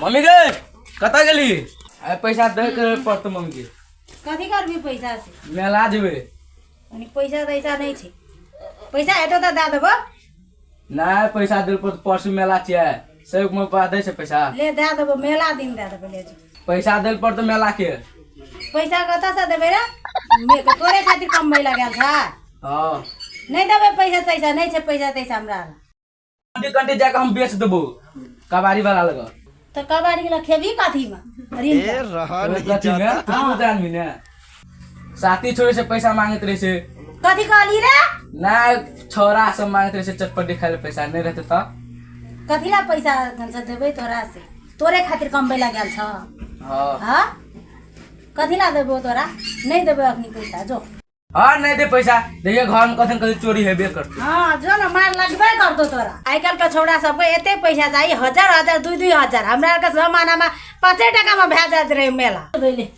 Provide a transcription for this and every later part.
Mummy गे कतऽ गेली अरे पैसा दे के पड़तौ मम्मी के कथी करबी पैसा से मेला जेबै अनि पैसा तैसा नहि छै पैसा हेतौ तऽ दए देबो नहि पैसा दे पड़तौ परसू मेला छियै सेवक मे पा दै छै पैसा ले दए देबो मेला दिन दए देबो ले जो पैसा देल पड़तौ मेला के पैसा कतऽ से देबै रे मे- तऽ तोरे खातिर कमबै लए गेल छै हँ नहि देबै पैसा तैसा नहि छै पैसा तैसा हमरा लग। कंटी कंटी जाके हम बेच देबो कबाड़ी वाला लगा तऽ कबाड़ी लए खेबही कथीमे ऋण कथी में तू जान भी ने साथी छोड़े से पैसा मांगत रहे से कथी कहली रे ना छोरा सब मांगत रहे से चटपटी खाए ले पैसा नहीं रहते तो कथी ला पैसा से देबै तोरा से तोरे खातिर कमबै ला गेल छ हाँ हाँ कथी ला देबो तोरा नहीं देबै अखनी पैसा जो हाँ नहीं दे पैसा देखिए घर में कथन कथी चोरी हेबे करते हाँ जो न मार लगबे करतो तोरा आइ काल्हि के छौड़ा सबके एते पैसा चाही हजार हजार दुई दुई हजार हमरा आरके जमानामा पाँचे टाकामा भए जाइत रहै मेला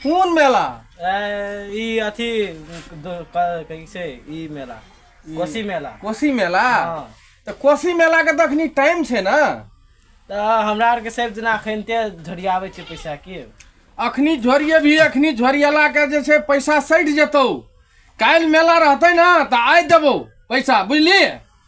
कोन मेला ई अथी कैसे ई मेला कोसी मेला कोसी मेला हाँ। तऽ कोसी मेला के तखनी टाइम छै ने तऽ हमरा आरके सब जेना अखन ते झोरियाबै छै पैसा की अखनी झोरियेबही अखनी झोरियला के जे छै पैसा सटि जेतौ काल्हि मेला रहतै ने तऽ आइ देबौ पैसा बुझलिही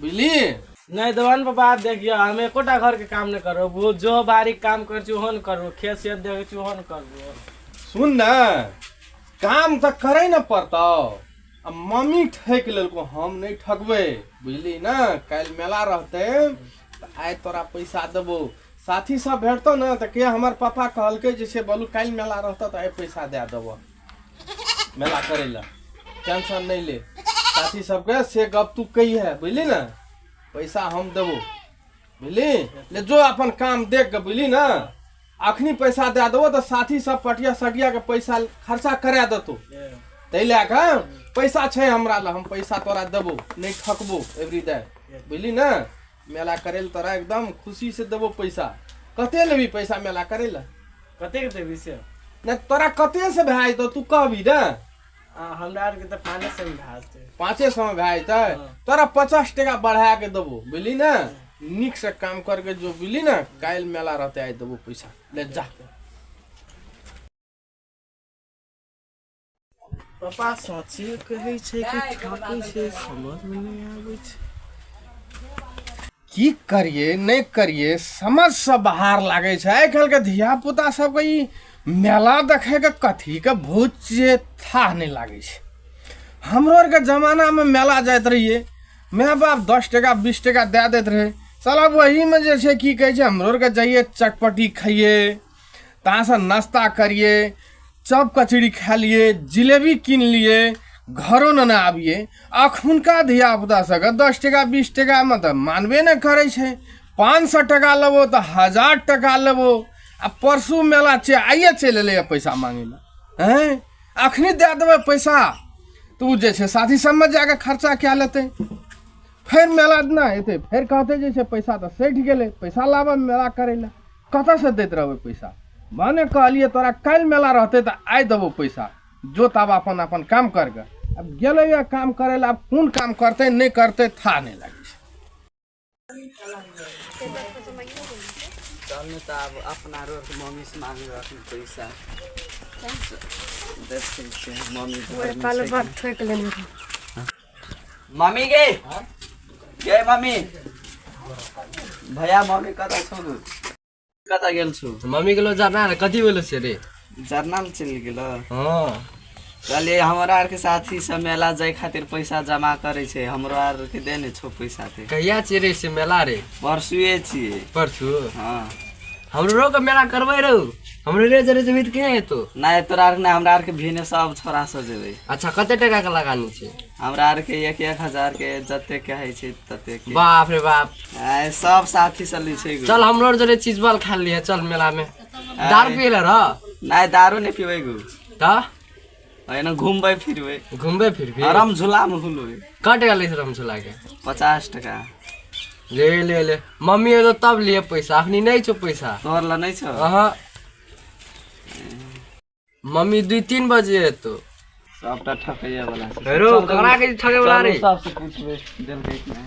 बुझली नहीं देवन बाबा देखियो हम एकोटा घर के काम नहीं करो वो जो बारीक काम कर छी ओहन करू खेत से देखे छी ओहन करू सुन ना काम तो करे न पड़तो अब मम्मी ठेक लेलको हम नहीं ठकबे बुझली ना कल मेला रहते तो आय तोरा पैसा देबो साथी सब भेटतो ना तो के हमार पापा कहलके जैसे बोलू कल मेला रहता तो आय पैसा दे देबो मेला करे ला टेंशन नहीं ले साथी सबके से गप तू कही है बुझली ना पैसा हम देबो बुझली ले जो अपन काम देख के बुझली ना अखनी पैसा दे देबो तो साथी सब पटिया सटिया के पैसा खर्चा करा देतो ताहि लए कऽ पैसा छै हमरा लग हम पैसा तोरा देबो नहि ठकबो एवरी डे बुझली ने मेला करे ले तोरा एकदम खुशी से देबो पैसा कते लेबी पैसा मेला करे ले कते के देबी से ने तोरा कते से भाई तो तू कहबी ना हमरा आर के तो पाँचे सौ में भाई छै पाँचे सौ में भाई तो तोरा पचास टका बढ़ा के देबो बुझली ना निक से काम करके जो बुझली ना काल मेला रहते आइ देबो पैसा ले जा पापा साँचे कहै छै कि ठाकुर छै समझमे नहि आबै छै की करिए नहि करिए समझसँ बाहर लागै छै आइ काल्हिके धियापुता सबके ई मेला देखैके कथीके भूत जे थाह नहि लागै छै हमरो आरके जमानामे मेला जाइत रहिए माय बाप दस टाका बीस टाका दए दैत रहै साला वहीमे जे छै की कहै छै हमरो आरके जाइए चटपटी खाइए तासँ नाश्ता करिए चप कचड़ी खा लिए जिलेबी कीन लिए घरो न ने आबिए अखुनका धियापुता सबके दस टका बीस टकामे तऽ मानबे नहि करै छै पाँच सए टका लेबो तऽ हजार टका लेबो आ परसू मेला छै आइए चलि एलैए पैसा मांगे लए हैं अखनी दए देबै पैसा तऽ ओ जे छै साथी सबमे जाके खर्चा कए लेतै फेर मेला दिना एतै फेर कहतै जे छै पैसा तऽ सठि गेलै पैसा लाबऽ मेला करै लए कतऽसँ दैत रहबै पैसा भने कहलियै तोरा काल्हि मेला रहतै तऽ आइ देबौ पैसा जो तब अपन अपन काम कर गए अब गेलै यऽ काम करै लए आब कोन काम करतै नहि करतै था नहि लागै छै चलू तऽ आब अपना रोड मम्मी से मांग रहथिन पैसा देखै छियै मम्मी घर में छै कि- ठोकि लेने मम्मी गे गे मम्मी भैया मम्मी कतऽ छौ तू कतऽ गेल छौ मम्मी गेलो जरना रे कथी भेलो छै रे जरना लऽ चलि गेल हँ कहलियै हमरा आरके साथी सब मेला जाय खातिर पैसा जमा करै छै हमरो आरके दे ने छौ पैसा ते कहिया छियै रे से मेला रे परसुए छियै परसू हँ हमरो के मेला करबै रहू हमरे रे जरे जेबी त के हेतो नहि तोरा आरके नहि हमरा आरके भिने सब छोरा सब जेबै अच्छा कते टका के लगानी छै हमरा आरके एक एक हजार के जते कहै छै तते के बाप रे बाप आइ सब साथी सब लै छै चल हमरो जरे चीज बल खा लिया चल मेला में दारू पियला रह नहि दारू नहि पीबै गु त एना घूमबै फिरबै घूमबे फिर भी आराम झूला में घूमबै कट गेलै से हम चला के पचास टका ले ले ले मम्मी एलो तब लिए पैसा अखनी नहीं छो पैसा तोहर ला नहीं छो अहाँ मम्मी दू तीन बजे एतो सबटा ठकैया वाला छै हेरो ककरा के ठगे वाला रे सबसे पूछबै देलकै कि नहि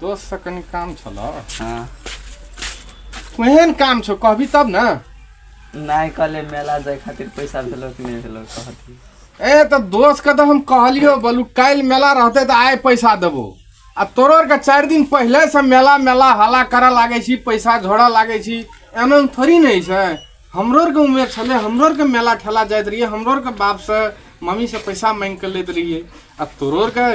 दोस्त से कनी काम छलो हाँ केहन काम छो कहबी तब ना नहीं कल मेला जाए खातिर पैसा भेलो कि नहीं भेलो कहती ए तो दोस्त के तो हम कहलियो बोलू कल मेला रहते तो आए पैसा देबो आ तोरो आर के चार दिन पहले से मेला मेला हला करे लागे छी पैसा झोड़ा लागे छी एमे थोड़ी नहीं छै हमरो आरके उमेर छलै हमरो आरके मेला ठेला जाइत रहियै हमरो आरके बापसँ मम्मीसँ पैसा मांगि कऽ लैत रहियै आ तोरो आरके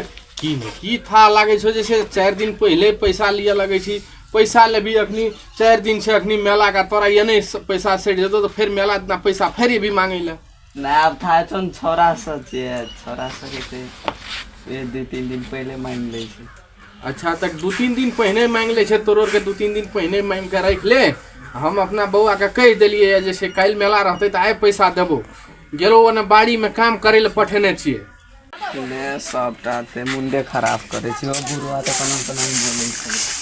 की ने की था लागै छौ जे छै चारि दिन पहिले पैसा लिअ लगै छी पैसा लेबही अखनी चारि दिन छै अखनी मेला का तोरा ये नहि स- पैसा सटि जेतौ तऽ फेर मेला दिना पैसा फेर एबही मांगै लए ना अब था तो छोरा सब छे छोरा सब के ये दू तीन दिन पहले मांग ले छी अच्छा तक दू तीन दिन पहिने मांगि लै छै तोरो के दू तीन दिन पहिने मांगि के राखि ले हम अपना बौआ के कहि देलियै जे से काल्हि मेला रहतै तऽ आइ पैसा देबो गेलो ओने बाड़ी में काम करे ले पठेने छियै ने सबटा ते मुंडे खराब करे छी ओ बुढ़वा तऽ कना कना बोलै छै